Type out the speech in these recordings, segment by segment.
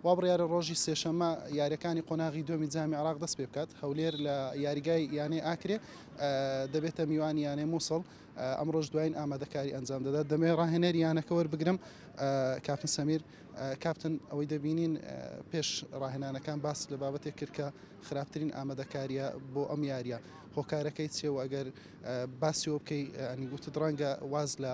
وابڕیارە ڕۆژی سێشەممە یارییەکانی قۆناغی دووەمی جامی عێراق دەست پێ بکات، هەولێر لە یاریگای یانەی ئاکرێ دەبێتە میوانی یانەی موسڵ، ئەمڕۆش دوایین ئامادەکاری ئەنجام دەدات، دەمەوێت ڕاهێنەری یانەکە وەربگرم کاپتن سەمیر، کاپتن ئەوەی دەبینین پێش ڕاهێنانەکان باس لە بابەتێک کرد کە خراپترین ئامادەکارییە بۆ ئەم یارییە هۆکارەکەی چییە و ئەگەر باسیەوە بکەی ئەنی گوتت ڕەنگە واز لە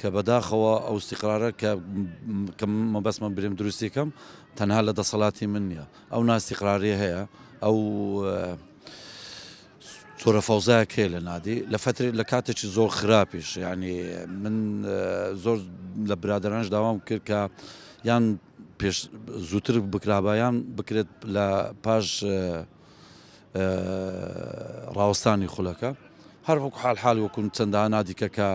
کە بەداخەوە ئەوستیقرارە کە کە مەبەستمە برێم دروستی کەم تەنها لە دەسەڵاتی من نییە ئەو ناستیقراری هەیە ئەو تۆرە فەوزای کێ لە نادی لە فتر لە کاتێکی زۆر خراپیش یعنی من زۆر لە برادرانش داوام کرد کە یان پێش زووتر بکرابایان بکرێت لە پاش ڕاوەستانی خولەکە هەر وەکو حال حال وەکو چەندە نادیکە کە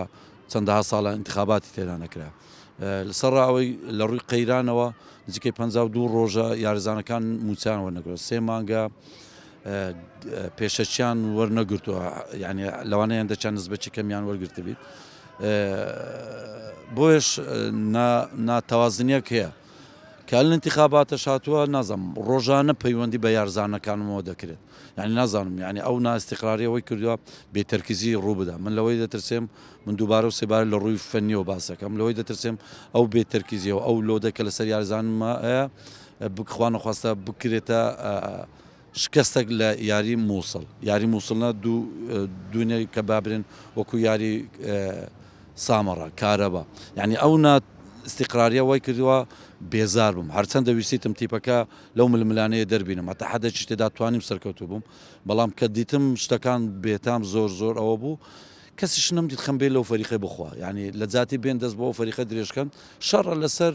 چەندەها ساڵە انتخاباتی تێدا نەکرا لەسەر ئەوەی لە ڕووی قەیرانەوە نزیکەی 52 ڕۆژە یارزانەکان موچان وەرنەگرن سێ مانگە پێشەچیان وەرنەگرتووە یعنی لەوانەیان دەچان نزبەچی کەمیان وەرگرت بیت بۆیش ناتەوازنیەک هەیە کەل انتخاباتش هاتوە نازانم ڕۆژانە پەیوەندی بە یارزانەکانمەوە دەکرێت یعنی نازانم یعنی ئەو نائستقراری ئەوەی کردوە بێ تەرکیزی ڕووبدا من لەوەی دەترسێم من دووبارە و سێبارە لە ڕووی فەنیەوە باسەکەم لەوەی دەترسێم ئەو بێ تەرکیزیەوە ئەو لۆدە کە لەسەر یارزانمە بکخوانەخواستە بکرێتە شکستەک لە یاری موسڵ یاری موسڵ نا دوو دونێ کە بابرێن وەکو یاری سامەڕە کارەبا یعنی ئەو نا استقراریە وای کردووە بێزار بووم هەرچەند دەویستیتم تیپەکە لەو ململانەیە دەربینم هەتا حەدەچی تێدا توانیم سەرکەوتو بووم بەڵام کە دیتم شتەکان بێتام زۆر زۆر ئەوە بوو کەسیش نەمدیت خەمبێ لەو فەریقی بخوا یعنی لە جاتی بێن دەست بۆ فەریقە درێژکەن شەڕە لەسەر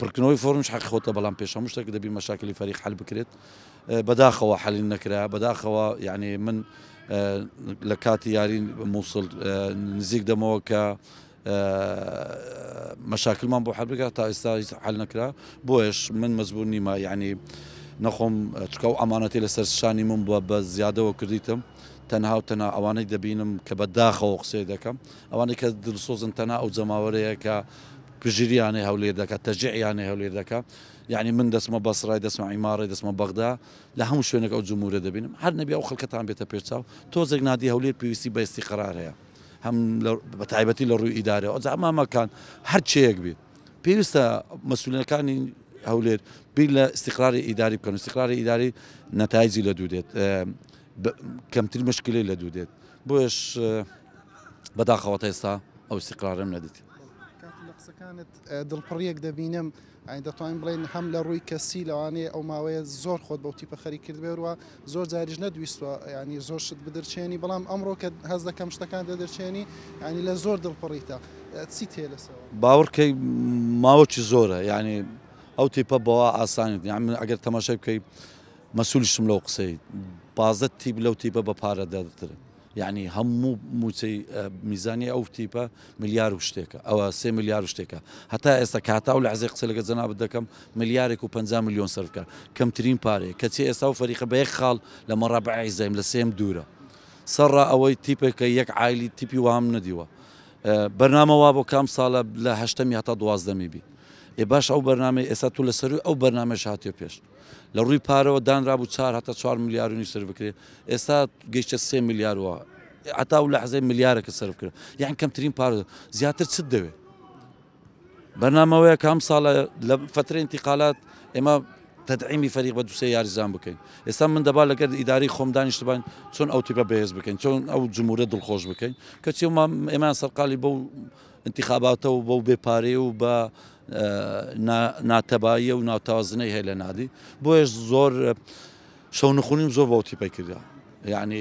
پڕکردنەوەی فۆرمش حەقی خۆتە بەڵام پێش هەموو شتێک دەبی مەشاکلی فەریق حەل بکرێت بەداخەوە حەلی نەکرا بەداخەوە یعنی من لە کاتی یارین مووسڵ نزیک دەمەوە کە مەشاکلمان بۆ حەبگا تا ئێستا حل نەکرا بۆیش من مەزبوو نیمە یعنی نەخۆم چکە و ئەمانەتی لەسەر شانی من بووە بە زیادەوە کردیتم تەنها و تەنا ئەوانەی دەبینم کە بە داخەوە قسەی دەکەم ئەوانەی کە دلسۆزن تەنا ئەو جەماوەرەیە کە پژریانێ هەولێر دەکا تەژێعیانێ هەولێر دەکا یەعنی من دەچمە بەسڕای دەچمە عیماڕێ دەچمە بەغدا لە هەموو شوێنێک ئەو جموورە دەبینم هەر نەبی ئەو خەڵکەتان بێتە پێش چاو تۆزێک نادی هەولێر پێویستی بە ئیستیقرار هەیە هەم بە تایبەتی لە ڕووی ئیدارەوە ئەجا مامەکان هەر چەیەک بێت پێویستە مەسولەکانی هەولێر بیر لە استقراری ئیداری بکەن استقراری ئیداری نەتایجی لە دوو دێت کەمتر مشکلی لە دوو دێت بۆش بەداخەوەتە ئێستا ئەو استقرارم نەدیت کاکە لە قسەکانت دڵپڕیەک دەبینم ئەین دەتوانین بڵێن هەم لە ڕووی کەسی لەوانەیە ئەو ماوەیە زۆر خۆت بەوتی پەخەری کردبێروە زۆر جاریش نەدویستوە ینی زۆر شت بدرچێنی بەڵام ئەمڕۆ کە هەز دەکەم شتەکان دەدرچێنی ینی لە زۆر دڵپڕیتە چی تێ لەسەوە باوڕکەی ماوەکی زۆرە یعنی ئەو تیپە بەوە ئاسانیت یان من ئەگەر تەماشای بکەیت مەسوولشتم لەو قسەی پازدە تیپ لەو تیپە بە پارە دەترن یەعنی هەموو مووچەی میزانیە ئەو تیپە ملیار و شتێکە ئەوە سێ ملیار و شتێکە هەتا ئێستا کاتا و لە عزێ قسە لەگە جەنابەت دەکەم ملیارێک و 50 میلیۆن سەرکە کەمترین پارێ کەچی ئێستا و فەریقە بە یەک خاڵ لە مەڕابع عیزەیم لە سێم دوورە سەرڕا ئەوەی تیپێکە یەک عیلی تیپی وام نەدیوە بەرنامە وا بۆ کام ساڵە لە هەشتەمی هەتا دوازدەمی بی ئێ باش ئەو بەرنامەی ئێستا تو لە سەروی ئەو بەرنامەش هاتێ پێش لە ڕووی پارەوە دانرابوو چوار هەتا چوار ملیار و نیو سەرف بکرێت ئێستا گەیشتە سێ ملیار و هەتا و لەحزەی ملیارەکە سەرف کرد یان کەمترین پارە زیاتر چت دەوێت بەنامەوەیە کام ساڵە لە فترە انتقالات ئێمە تدعیمی فەریق بە دوسێ یاریزان بکەین ئێستا من دەبا لەگەر ئیداری خۆم دانیشتبان چۆن ئەو تیپە بەهێز بکەین چۆن ئەو جمهورە دڵخۆش بکەین کەچی ئێمان سەرقالی بەو انتخاباتە و بەو بێ پارەیە و بە ناتەباییە و ناتەوازنەی هەیە لە نادی بۆیش زۆر شەو نخونیم زۆر بەوتی پێ کردە یعنی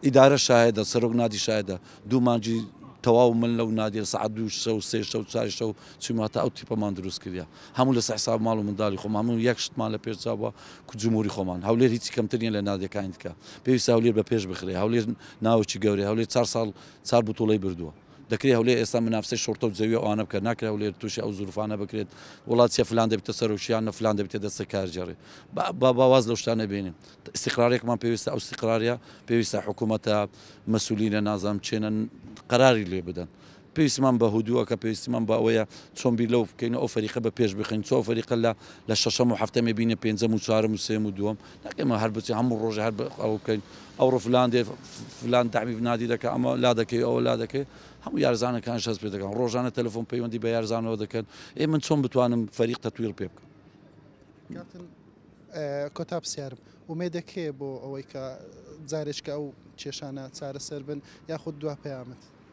ئیدارە شاهدە سەرۆک نادی شاهدە دوو مانجی تەواو من لەو نادیە سعات دوو شە و سێ شە و چاری شە و چیماتە ئەو تیپەمان دروست کردە هەموو لە سەحساب ماڵ و منداڵی خۆمان هەموو یەک شتمان لە پێشچوە کوجمهوری خۆمان هەولێر هیچی کەمترین لە نادەکانی دیکە پێویست هەولێر بە پێش بخرێ هەولێر ناوچی گەورەی هەولێر چار ساڵ چار بتوڵەی بردووە. دەکرێت هەولێر ئێستا منافسەی شوڕتە و جەوی ئەوانە بکات، ناکرێت هەولێر تووشی ئەو زروفانە بکرێت وەڵا چیە فلان دەبیتە سەرۆک یان نە فلان دەبیتە دەستە کارگێڕی. با با با واز لەو شتانە بێنین. ئیستیقراریەکمان پێویستە، ئەو ئیستیقراریە پێویستە حکوومەتە، مەسوولینە نازانم کێنە قەراری لێ بدەن. پێویستمان بە هدووەکە، پێویستمان بە ئەوەیە چۆن بیر لەوە بکەین و ئەو فەریقە بە پێش بخەین، چۆن ئەو فەریقە لە لە شەشەم و هەفتەمێ بینە پێنجەم و چوارەم و سێم و دووەم. ئێمە هەر بچین هەموو ڕۆژێ هەر ئەوە بکەین ئەوڕۆ فلان دێ فلان دامی بنادی دەکە ئەمە لا دەکەی ئەوە لا دەکەی هەموو یارزانەکان شەست پێ دەکەن ڕۆژانە تەلفۆن پەیوەندی بە یارزانەوە دەکەن ئێ من چۆن بتوانم فەریق تەتویر پێ بکەم کۆتا پرسیارم ومێ دەکەێ بۆ ئەوەی کە جارێککە ئەو کێشانە چارەسەر بن یاخود دوا پەیامەت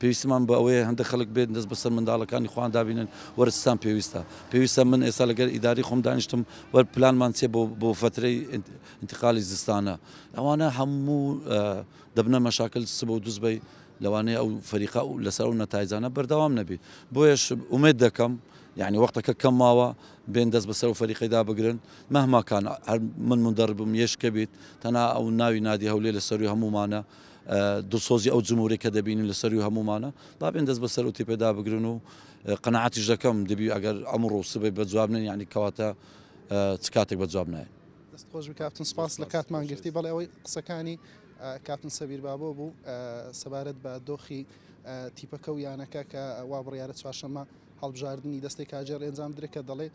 پێویستمان بە ئەوەیە هەندێک خەڵک بێن دەست بەسەر منداڵەکانی خۆیان دابینن، وەرە چتان پێویستە؟ پێویستە من ئێستا لەگەر ئیدارەی خۆم دانیشتم وەر پلانمان چیە بۆ بۆ فەترەی ئینتقالی زستانە؟ ئەوانە هەموو دەبنە مەشاکل سبە و دوسبەی لەوانەیە ئەو فەریقە و لەسەر ئەو نەتایجانە بەردەوام نەبی بۆیەش ئومێد دەکەم یعنی وەختەکە کەم ماوە بێن دەست بەسەر و فەریقەیدا بگرن مەهماکان هەر من مندەڕ بم یش کە بیت تەنا ئەو ناوی نادی هەولێ لە سەروی هەموومانە دڵسۆزی ئەو جموری کە دەبینین لە سەروی هەموومانە با بێن دەست بە سەر ئەو تیپەدا بگرن و قەناعەتیش دەکەم دەبی ئەگەر ئەمڕۆ و سبەی بە جواب نێن یعنی کەواتە چ کاتێک بە جواب نایەن دەست خۆش بکاتن سپاس لە کاتمان گرتی بەڵێ ئەوەی قسەکانی کاتن سەبیر بابۆ بوو سەبارەت بە دۆخی تیپەکە و یانەکە کە وا بڕیارە چوارشەمە هەڵبژاردننی دەستی کاجێر ئەنجام درێکە دەڵێ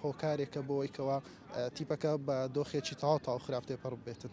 هۆکارێکە بۆیکەوە تیپەکە بە دۆخێکی تاوا تاو خراپ تێپەڕ بێتن.